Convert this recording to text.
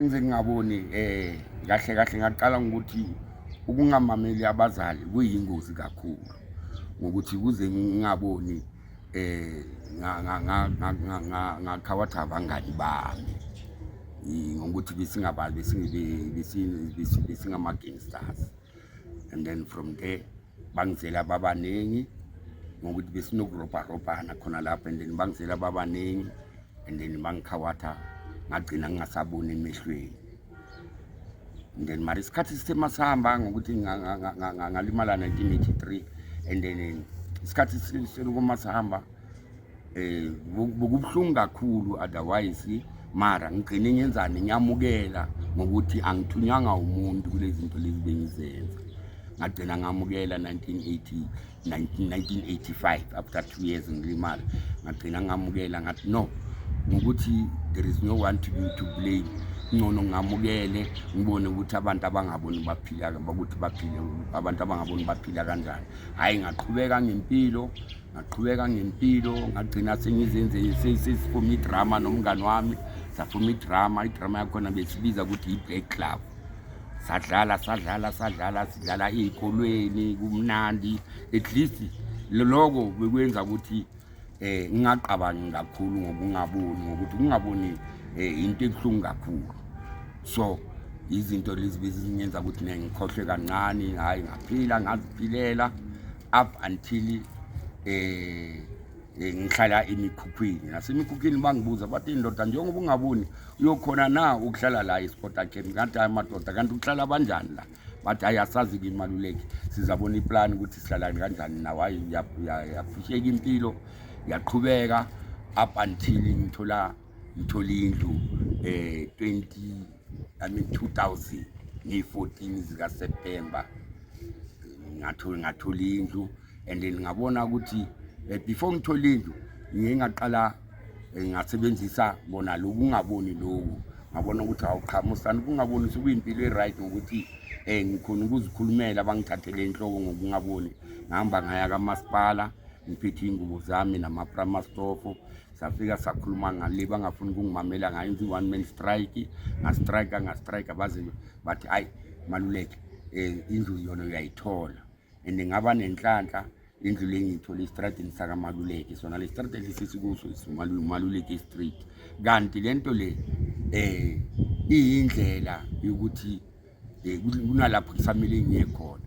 ngize ngingaboni eh kahle kahle ngaqala ngokuthi ukungamameli abazali kuyingozi kakhulu ngokuthi kuze ngingaboni eh ngakhawathi abangani bami ngokuthi besingabazi besingama-gangsters and then from there bangizela babaningi ngokuthi besinokurobharobhana khona lapho and then bangizela babaningi and then bangikhawatha ngagcina ngingasaboni emehlweni and then mara isikhathi sithe masihamba ngokuthi ngalimala 1983 and then isikhathi selokuma sihamba eh bukubhlungu kakhulu otherwise mara ngigcine ngenzani ngiyamukela ngokuthi angithunywanga umuntu kulezi zinto lezi bengizenza ngagcina ngamukela 1980 1985 after two years ngilimala ngagcina ngamukela ngathi no ngokuthi there is no one to be to blame ngcono ngamukele ngibone ukuthi abantu abangaboni baphila ukuthi baphile abantu abangaboni baphila kanjani hhayi ngaqhubeka ngempilo ngaqhubeka ngempilo ngagcina sengizenze sesiphuma idrama nomngani wami saphuma idrama idrama yakhona besibiza ukuthi yi-black club sadlala sadlala sadlala sidlala ey'kolweni kumnandi at least loko bekwenza ukuthi um ngingaqabangi kakhulu ngokungaboni ngokuthi kungaboni um eh, into ebuhlungu kakhulu so izinto lezi bezizingenza ukuthi ne ngikhohlwe kancane hhayi ngaphila ngaziphilela up until eh, eh ngihlala emikhukhwini nasemikhukhwini bangibuza bathi indoda njengoba ungaboni uyokhona na ukuhlala la esporta camp ngathi hayi madoda kanti ukuhlala banjani la bathi hayi asazi kimaluleki sizabona iplani ukuthi sihlala kanjani nawo hayi yafusheka impilo yaqhubeka up until ngithola ngithola indlu um eh, 20 yami 2000 ngiyi-14 zikaseptemba ngathola indlu and then ngabona ukuthi eh, before ngithola indlu ngiye ngaqala eh, ngasebenzisa bona loku ngaboni loku ngabona ukuthi awuqhamusani kungaboni sekuyimpilo e-right ngokuthi um ngikhona ukuzikhulumela bangithathele inhloko ngokungaboni ngihamba ngaya kamasipala ngiphethe iy'ngubo zami namapramasitofo safika sakhuluma ngale bangafuni ukungimamela ngayo ngithi one man strike ngastrike ngastrike baze bathi hayi maluleke um indlu yona uyayithola and ngaba nenhlanhla indlu le ngiyithole estradini sakamaluleke sona le strad esisikuso maluleke street kanti le nto le um iyindlela yokuthi eh, kunalapho kusamele ngiye khona